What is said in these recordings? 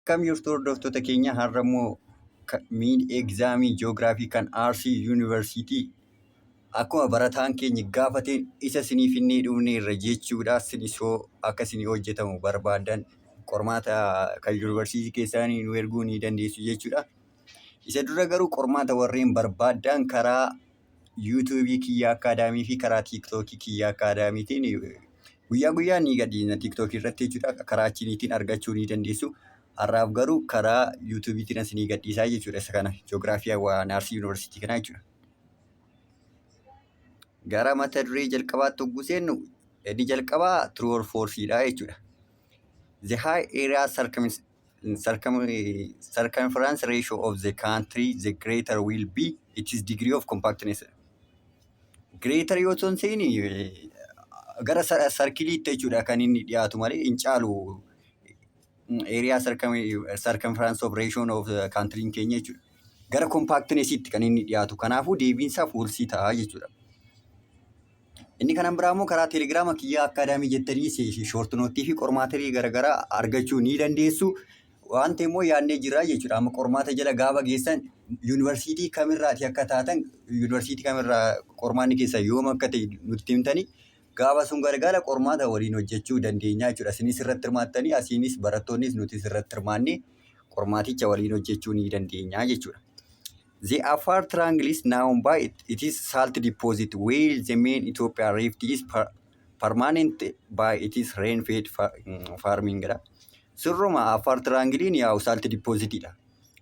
Akkam jirtu hordoftoota keenya har'a immoo miin egzaamii ji'oogiraafii kan Arsii Yuunivarsiitii akkuma barataan keenya gaafate isa sinii finnee dhumne irra jechuudha sinisoo akka sinii hojjetamu barbaadan qormaata kan yuunivarsiitii keessaanii nu erguu ni dandeessu jechuudha. Isa dura garuu qormaata warreen barbaadan karaa yuutuubii kiyyaa akkaadaamii fi karaa tiiktookii kiyyaa akkaadaamiitiin guyyaa guyyaa ni gadhiisna tiiktookii irratti jechuudha. Karaa achiniitiin argachuu ni dandeessu. Har'aaf garuu karaa yuutuubiitiin as ni gadhiisaa jechuudha isa kana ji'oogiraafii hawaa naarsii yuunivarsiitii kanaa jechuudha. Gara mata duree jalqabaatti hogguu seennu inni jalqabaa true or false dha jechuudha. The high area circumference circumference ratio of the country the greater will be its degree of compactness. Greater yoo ta'u ta'in gara sarkiliitti jechuudha kan inni dhiyaatu malee hin caalu area circumference of ratio of country keenya jechuudha. Gara compactnessitti kan inni dhiyaatu kanaafuu deebiinsaa foolsii ta'a jechuudha. Inni kanan biraa immoo karaa telegiraama kiyyaa akkaadaamii jettanii shoortinoottii fi qormaatirii garaagaraa argachuu ni dandeessu. Wanti immoo yaadnee jirra jechuudha. Amma qormaata jala gaafa geessan yuunivarsiitii kamirraati akka taatan yuunivarsiitii kamirraa qormaanni keessa yoom akka ta'e nutti himtanii gaafa sun gargaara qormaata waliin hojjechuu dandeenya jechuudha. Isinis irratti hirmaattanii asiinis barattoonnis nutis irratti hirmaannee qormaaticha waliin hojjechuu ni dandeenya jechuudha. The Afar triangle is known by it, it is salt deposit where the main Ethiopia rift is per, permanent by it is rain fed fa- mm, farming dha. Sirruma Afar triangle'n yaa salt deposit dha.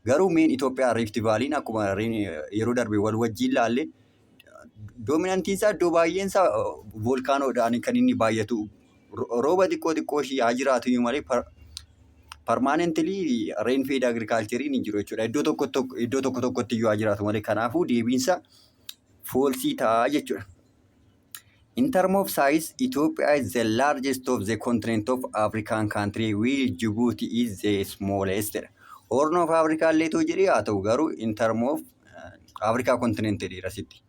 Garuu main Ethiopia rift valley'n akkuma rain- yeroo darbe wal wajjiin laalle Doominantiin isaa iddoo baay'een isaa voolkaanoodhaan kan inni baay'atu. Rooba xiqqoo xiqqoo ishii haa jiraatu iyyuu malee parmaanentilii reen feed agirikaalcheriin hin jiru jechuudha. Iddoo tokko tokko iddoo tokko tokkotti iyyuu haa jiraatu malee kanaafuu deebiinsa foolsii ta'a jechuudha. In term of size, Ethiopia is the largest of the continent of African country while Djibouti is the smallest. jedha. Horn of Africa illee too jedhee haa ta'u garuu in term of Africa continent jedheera sitti.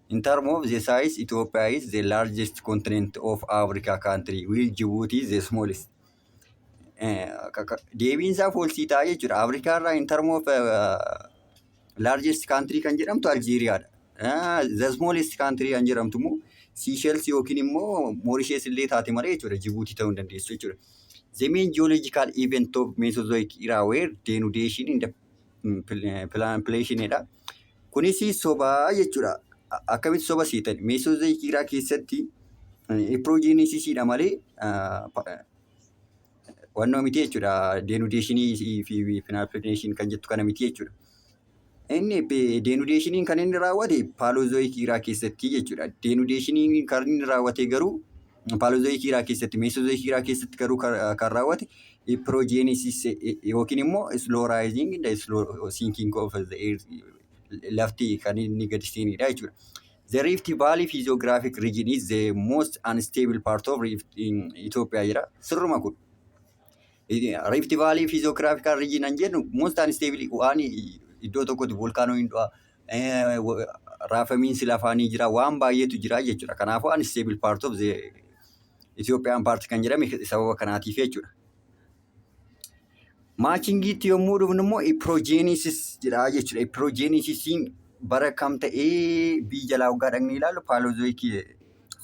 In term of the size, Ethiopia is the largest continent of Africa country, while Djibouti is the smallest. Eh, ka- ka- Deebiin isaa foolsii ta'a jechuudha. Afrikaa irraa in term of uh, largest country kan jedhamtu Aljeeriyaadha. Ah, The smallest country kan jedhamtu immoo Seychelles yookiin immoo Mauritius illee taate malee jechuudha. Djibouti ta'uu hin dandeessu jechuudha. The main geological event of Mesozoic era were denudation in the pilaanpileeshiniidha. Kunis sobaa jechuudha. Akkamitti soba siitan? Meesota jiraa keessatti piroojiinisiisiidha malee wannoo miti jechuudha. Deenudeeshinii fi pilaanpileeshin kan jettu kana miti jechuudha. Inni deenudeeshiniin kan inni raawwate paaloozoyikii jiraa keessatti jechuudha. Deenudeeshiniin kan inni raawwate garuu paalozooyikii irraa keessatti meesozooyikii irraa keessatti garuu kan kan raawwate piroojeenisis yookiin immoo islooraayizing inda sinking of the earth lafti kan inni gadi seenidha jechuudha. The Rift Valley physiographic region is the most unstable part of Rift in Ethiopia jira. Sirruma kun. Rift Valley physiographical region an jennu most unstable waan iddoo tokkotti volkaanoo hin du'a, raafamiinsi lafaa ni jira, waan baay'eetu jira jechuudha. Kanaafuu unstable part of the Ethiopian part kan jedhame sababa kanaatiif jechuudha. Maachingiitti yommuu dhufnu immoo iproojeeniisis jedha jechuudha. Iproojeeniisisiin bara kam ta'ee biyya jalaa waggaa dhaqnee ilaallu paalozoikii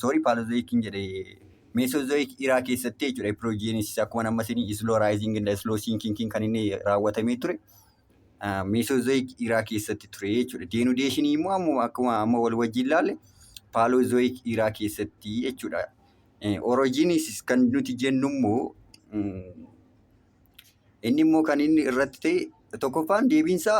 soorii paalozoikiin jedhe meesozoik iraa keessatti jechuudha. Iproojeeniisis akkuma amma isinii isloo raayiziing inda isloo siinkiinkiin kan inni raawwatamee ture. Meesoozoyik iraa keessatti ture jechuudha. Deenudeeshinii immoo amma akkuma amma wal wajjin ilaalle paaloozoyik iraa keessatti jechuudha. Orojiniisis kan nuti jennu immoo inni immoo kan inni irratti ta'e tokkoffaan deebiinsaa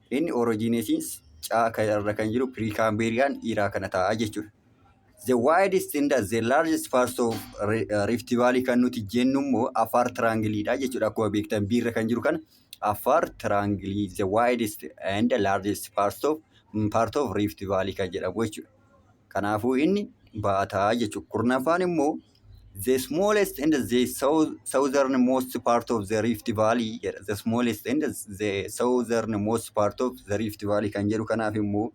Inni originations ca ka irra kan jiru Precambrian era kana ta'a jechuudha. The widest and the largest parts of Ri- uh, Rift Valley kan nuti jennu immoo Affaar Triangle dha jechuudha. Akkuma beektan B irra kan jiru kana Affaar Triangle the widest and the largest parts of mm, part of Rift Valley kan jedhamu jechuudha. Kanaafuu inni baataa jechuudha. Kurnaffaan immoo the smallest and the sou- southernmost part of the Rift Valley jedha. The smallest and the southernmost part of the Rift Valley kan jedhu kanaaf immoo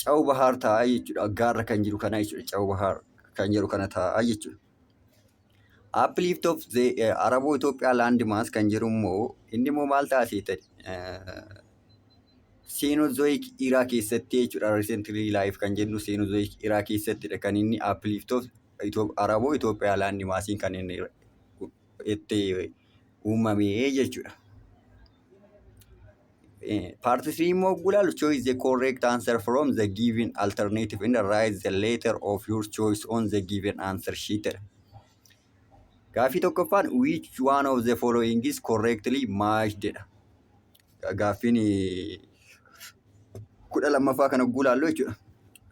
Cawu Bahaar ta'a jechuudha. Gaarra kan jiru kana jechuudha. Cawu Bahaar kan jedhu kana ta'a jechuudha. Uplift of the uh, Arabo Ethiopia landmass kan jedhu immoo inni immoo maal ta'a seetan? Cenozoic era keessatti jechuudha recently life kan jennu Cenozoic era keessattidha kan inni uplift of Arabo Ethiopia land mass kan inni itti uumame jechuudha. Part 3 immoo yogguu ilaallu choose the correct answer from the given alternative and write the letter of your choice on the given answer sheet jedha. Gaaffii tokkoffaan which one of the following is correctly matched jedha. Gaaffiin eh, kudha lammaffaa kana guulaallu jechuudha.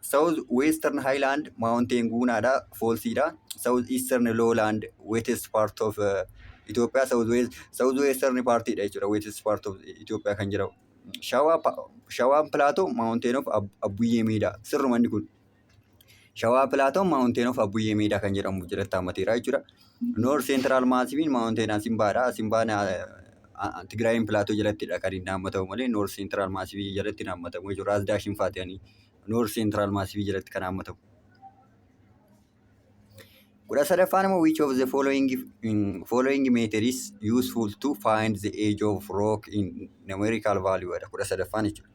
South Western Highland Mountain guunaadha, foolsiidha. South Eastern Lowland wettest part of uh, Ethiopia, South West, South Western partidha jechuudha. Wettest part of Ethiopia kan jedhamu. Shawaa pa- Shawaan Plateau Mountain of Ab- Abbuyyee Miidhaa. Sirruma inni kun. Shawaa Pilaatoon Maawunteen of Abbuyyee Meedaa kan jedhamu jalatti haammateera jechuudha. Noor Seentiraal Maasiifiin Maawunteen Asimbaadha. Asimbaan Tigraayiin Pilaatoo jalattidha kan inni haammatamu malee Noor Seentiraal Maasiifii jalatti hin haammatamu jechuudha. Raas Daashin Faatiyanii Noor Seentiraal Maasiifii jalatti kan haammatamu. Kudha sadaffaan immoo which of the following, following meter is useful to find the age of rock in numerical value dha. Kudha sadaffaan jechuudha.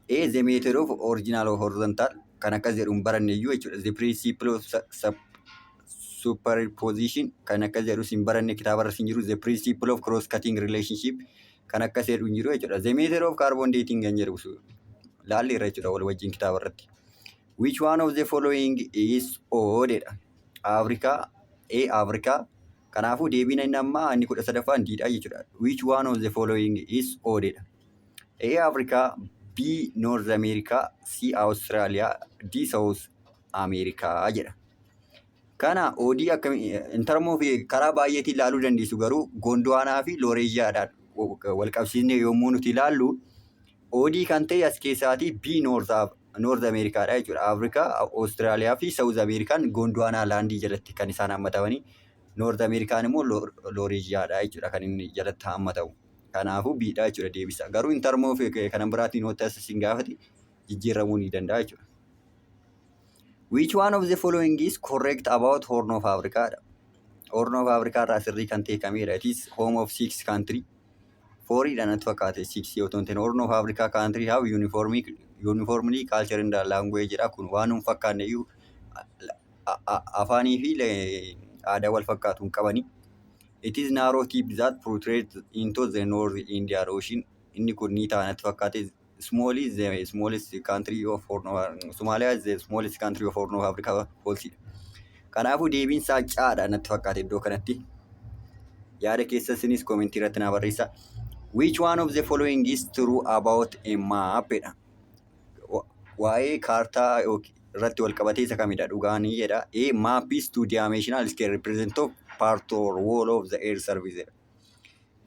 A, the method of original or horizontal kan akkas jedhu hin baranne iyyuu jechuudha. The principle of su- sup- superposition kan akkas jedhus hin baranne kitaaba irras hin jiru. The principle of cross cutting relationship kan akkas jedhu hin jiru jechuudha. The method of carbon dating kan jedhu su- laalli irra jechuudha wal wajjin kitaaba irratti. Which one of the following is odd jedha. Africa, A Africa. Kanaafuu deebiin inni ammaa inni kudha sadaffaan diidhaa jechuudha. Which one of the following is odd jedha. A Africa B North America C Australia D South America jedha. Kana oodii akkami in term of karaa baay'eetiin ilaaluu dandeessu garuu Gondwaanaa fi Looreezhiyaadhaan wal qabsiisnee yommuu nuti ilaallu oodii kan ta'e as keessaatii B North Af- North America dha jechuudha. Africa, Australia fi South American Gondwaanaa laandii jalatti kan isaan hammatamanii North American immoo Looreezhiyaadha jechuudha kan inni jalatti hammatamu. Kanaafuu B dha jechuudha deebisaa. Garuu in term of eh, kanan biraatiin yoo ta'es isin gaafate jijjiirramuu ni danda'a jechuudha. Which one of the following is correct about Horn of Africa dha. Horn of Africa irraa sirrii kan ta'e kamidha? It is home of six country. Forii dha natti fakkaate six yoo ta'u Horn of Africa country have uniformly, uniformly culture and language dha. Kun waan hin fakkaanne iyyuu a- a- afaanii fi le- aadaa wal fakkaatu hin qabani. It is narrow tip that protrudes into the North Indian Ocean. Inni kun ni ta'a natti fakkaate. Small is the smallest country of Horn of Somalia is the smallest country of Horn of Africa policy. Kanaafuu deebiin isaa caadha natti fakkaate iddoo kanatti. Yaada keessa isinis komentii irratti naa barreessa. Which one of the following is true about a map? jedha. Waa'ee kaartaa irratti wal qabatee isa kamidha dhugaan jedha. A map is two dimensional scale represent of part or wall of the air surface.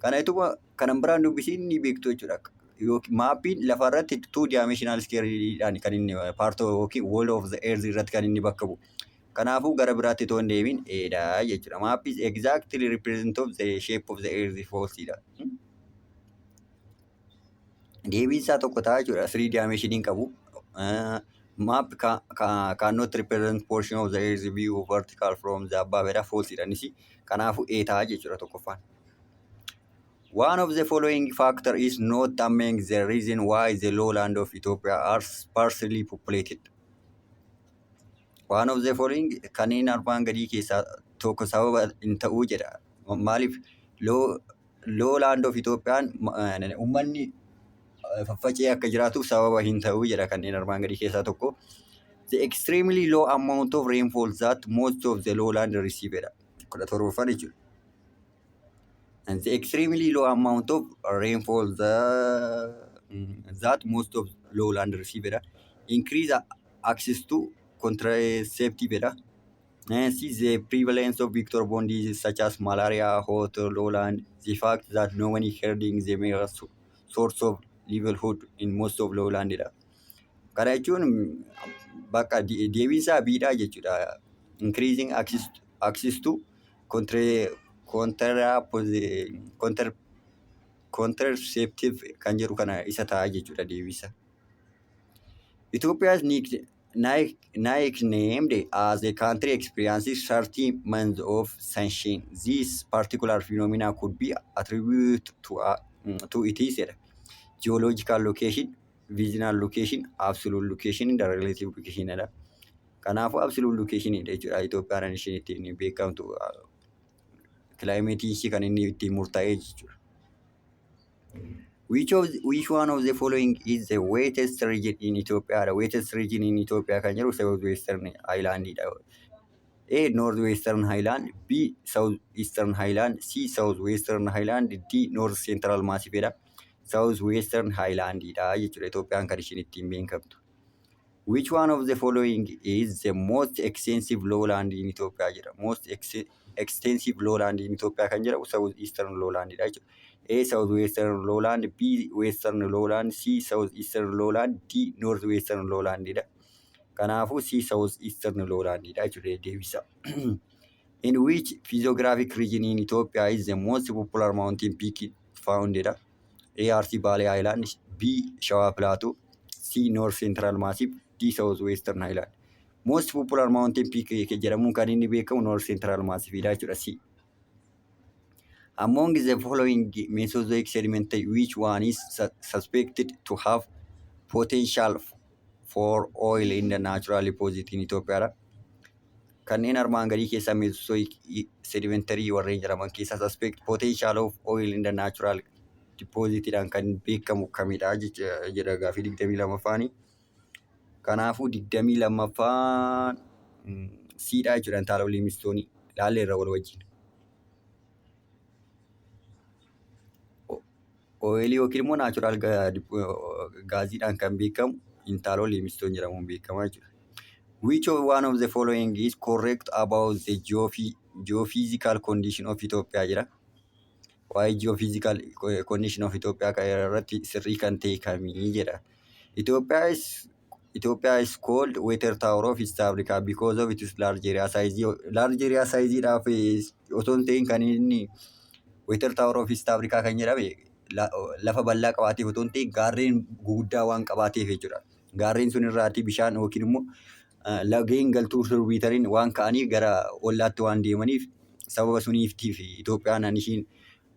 Kana ituma kanan biraan dubbisiin ni beektu jechuudha. Yookiin maappiin lafa irratti two dimensional scale dhaan kan inni part yookiin wall of the earth irratti kan inni bakka bu'u. Kanaafuu gara biraatti otoo hin deemin eedha jechuudha. Map is exactly represent of the shape of the earth false dha. deebiin isaa tokko ta'a jechuudha. Sirii dimension hin qabu. Map cannot represent portion of the earth view of vertical from the above jedha false dha innis. Kanaafuu A ta'a jechuudha tokkoffaan. One of the following factor is not among the reason why the lowland of Ethiopia are sparsely populated. One of the following kanneen armaan gadii keessaa tokko sababa hin ta'uu jedha. Maaliif loo Loo laand of Itoophiyaan uummanni faffacee akka jiraatuuf sababa hin ta'u jedha kanneen armaan gadii keessaa tokko. The extremely low amount of rainfall that most of the lowland receive jedha. kudha torbaffaan jechuudha. And the extremely low amount of rainfall the, that most of lowland receive jedha. Increase access to contraceptive jedha. Uh, see the prevalence of vector-borne diseases such as malaria, hot lowland, the fact that no one is herding the mere so- source of livelihood in most of lowland dha. Kana jechuun bakka de- deebiinsaa biidhaa jechuudha. Increasing access, access to contra, contrapposi- contra, contraceptive kan jedhu kana isa ta'a jechuudha deebiinsa. Ethiopia's need Nike, Nike named as a country experiencing 30 months of sunshine. This particular phenomena could be attributed to, uh, mm, to it is jedha. Geological location, visible location, absolute location, the relative location jedha. Kanaafuu absolute location dha jechuudha. Itoophiyaan isheen ittiin beekamtu uh, kilaayimeetiin ishii kan inni ittiin murtaa'e jechuudha. Which of the, which one of the following is the wettest region in Ethiopia? The wettest region in Ethiopia kan jedhu southwestern island dha. A. Northwestern Highland B. Southeastern Highland C. Southwestern Highland D. North Central Massif dha. Southwestern Highland dha jechuudha. Itoophiyaan kan ishiin ittiin beekamtu. Which one of the following is the most extensive lowland in Ethiopia jedha. Most ex- extensive lowland in Ethiopia kan jedhamu South Eastern lowland dha jechuudha. A South Western lowland, B Western lowland, C South Eastern lowland, D North Western lowland dha. Kanaafuu C South Eastern lowland dha jechuudha deebisa. In which physiographic region in Ethiopia is the most popular mountain peak found dha. A Arsii Baalee Haayilaand B Shawaa Pilaatuu C North Central Massive D South Western Highland Most popular mountain peak jedhamuun kan inni beekamu North Central Massive dha jechuudha C Among the following Mesozoic sediment which one is su- suspected to have potential for oil in the natural deposit in Ethiopia dha. Kanneen armaan gadii keessaa Mesozoic sedimentary warreen jedhaman keessaa suspect potential of oil in the natural deposit dhaan kan beekamu kamidha jecha- jedha gaafii digdamii lammaffaani. Kanaafuu digdamii lammaffaan mm, siidhaa jechuudha intaala liimistoonii laalleerra wal wajjin. Ooyilii yookiin immoo naachuraal gaaziidhaan kan beekamu intaaloo liimistoon jedhamuun beekama jechuudha. Which of one of the following is correct about the geophy- geophysical condition of Ethiopia jedha. Waa'ee geophysical condition of Ethiopia irratti sirrii kan ta'e kamii jedha. Ethiopia is Ethiopia is called water tower of East Africa because of its large area size. Large area size dhaaf osoo hin ta'in kan inni water tower of East Africa kan jedhame la- lafa bal'aa qabaateef osoo hin ta'in gaarreen guguddaa waan qabaateef jechuudha. Gaarreen sun irraatii bishaan yookiin immoo eh, lageen galtuu sirbiitariin waan ka'aniif gara ollaatti waan deemaniif sababa suniiftiif Itoophiyaan an ishiin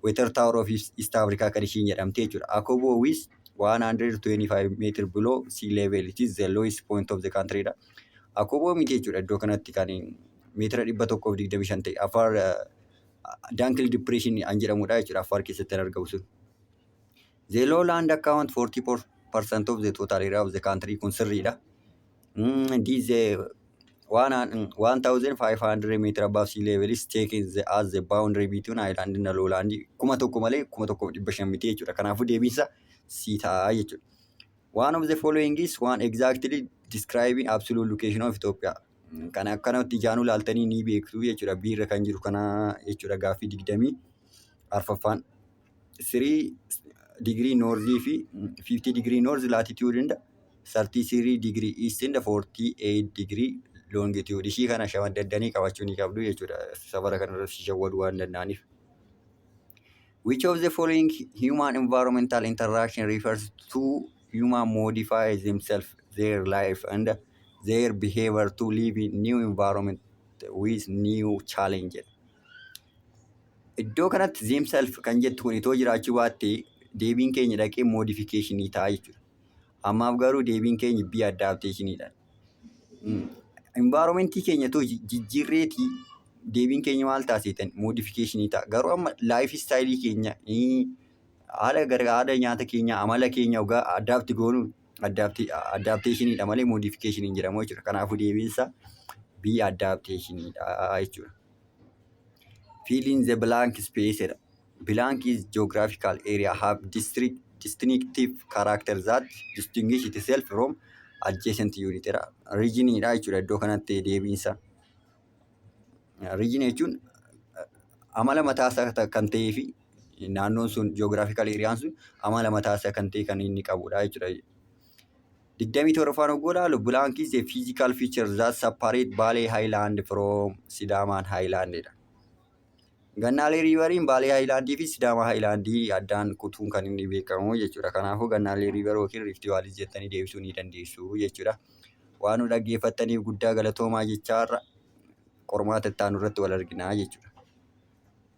Water Tower of East East Africa kan ishiin jedhamte jechuudha. Akobo with 125 meter below sea level it is the lowest point of the country dha. Akobo miti jechuudha iddoo kanatti kan meetira 125 ta'e afar Dankil Depression an jedhamudha jechuudha afar keessatti kan argamu sun. The low land account 44% of the total area of the country kun sirriidha. Mm, this the one and- 1500 meter above sea level is taken the, as the boundary between island and low land kuma tokko malee kuma tokko fi dhibba shan miti jechuudha. Kanaafuu deebiinsa sii ta'a jechuudha. One of the following is one exactly describing absolute location of Ethiopia. Mm, Kana akkanatti ijaanuu laaltanii ni beektu jechuudha. Biirra kan jiru kana jechuudha gaaffii digdamii arfaffaan. 3 degree north fi 50 degree north latitude inda 33 degree east inda 48 degree longitude ishii kana shamaddanii qabachuu ni qabdu jechuudha safara kana irratti si shawwaduu waan danda'aniif. Which of the following human environmental interaction refers to human modify themselves, their life and their behavior to live in new environment with new challenge? Iddoo kanatti themself kan jettu kun itoo jiraachuu baatte deebiin keenya dhaqee modification ta'a jechuudha. Ammaaf garuu deebiin keenya B adaptation dha. Environment keenya itoo ji- jijjiirreeti deebiin keenya maal ta'a seetan modification ta'a. Garuu amma life style keenya eh, haala gara haala nyaata keenya amala keenya ogaa adapt goonu adapti- adaptation dha malee modification hin jedhamu jechuudha. Kanaafuu deebiin isaa B adaptation dha jechuudha. Fill in the blank space jedha. Blank is geographical area have district distinctive character that distinguish itself from adjacent unit jedha. Region dha jechuudha iddoo kanatti deebiinsa. Region jechuun eh, amala mataa isaa ta- kan ta'ee fi naannoon sun geographical area sun amala mataa isaa kan ta'e kan inni qabudha jechuudha. digdamii torbaffaan hogguu ilaalu blank is a physical feature that separate Baalee Highland from Sidaamaan Highland dha. Gannaalee riivariin Baalee Highland fi Sidaamaa Highland addaan kutuun kan inni beekamu jechuudha. Kanaafuu gannaalee riivar yookiin riifti vaalii jettanii deebisuu ni dandeessu jechuudha. Waan nu dhaggeeffattaniif guddaa galatoomaa jechaa har'a qormaata itti aanu irratti wal arginaa jechuudha.